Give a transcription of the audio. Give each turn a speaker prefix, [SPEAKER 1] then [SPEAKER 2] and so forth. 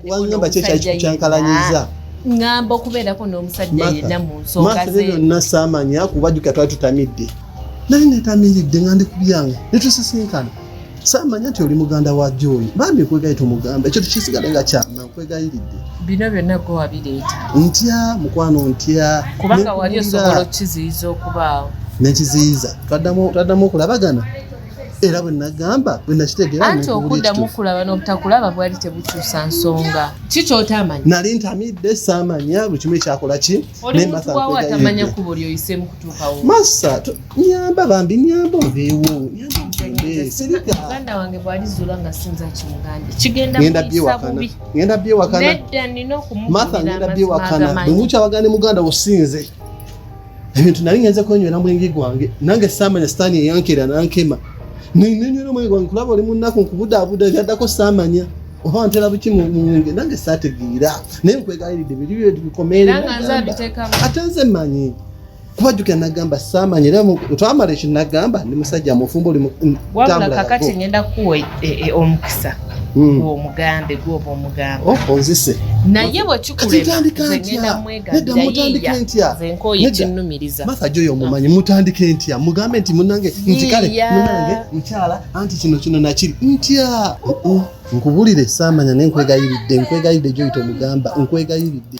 [SPEAKER 1] wangamba kyo kyali kikukyankalanyiza ngamba
[SPEAKER 2] okubeerako n'omusajja yenna mu nsonga ze byonna saamanya
[SPEAKER 1] kuba jjuka twali tutamidde naye netamiridde nga ndi ku byange netusisinkana saamanya nti oli muganda wa jooyi bambi nkwegayi tomugamba ekyo tukisigale nga kyama nkwegayiridde bino byonna gwe
[SPEAKER 2] wabireeta ntya mukwano
[SPEAKER 1] ntya kubanga wali osobola
[SPEAKER 2] okukiziyiza okubaawo nekiziyiza
[SPEAKER 1] twaddamu okulabagana era bwe nagamba bwe nakitegeera anti okuddamu okulaba
[SPEAKER 2] n'obutakulaba bwali tebukyusa nsonga ki kyotamanyi nali ntamidde
[SPEAKER 1] saamanya buli kimu ekyakola ki nematamanya
[SPEAKER 2] kubo lyoyisemu kutuukawo masa
[SPEAKER 1] nyamba bambi nyamba oveewo
[SPEAKER 2] muganda wange bwalizuula nga sinza kimuganda kigendagenda byewakana
[SPEAKER 1] nina
[SPEAKER 2] okumugenda
[SPEAKER 1] byewakana bwemukyawagane muganda osinze ebintu nali ngenze kwenywera mwenge gwange nange saamanya sitaani eyankera nankema nenywera omwenge gwange kulaba oli munnaku nkubudaabuda ebyaddako saamanya oba ntera buki munge nange saategeera naye nkwegaliridde biri byetu bikomere ate nze manyi kubajjukira nagamba saamanya era twamala ekyo nagamba ndi musajja mufumba oli wabula kakati
[SPEAKER 2] ngenda kukuwa e, e, omukisa hmm. gwomugambe gwoba omugambe oh, onzise
[SPEAKER 1] naye
[SPEAKER 2] bwekikuleagendamu nedda mutandike ntya matha joyo omumanyi
[SPEAKER 1] mutandike ntya mugambe nti munange nti kale munange mukyala anti kino kino nakiri ntya nkubulire saamanya naye nkwegayiridde nkwegayiridde joyita omugamba nkwegayiridde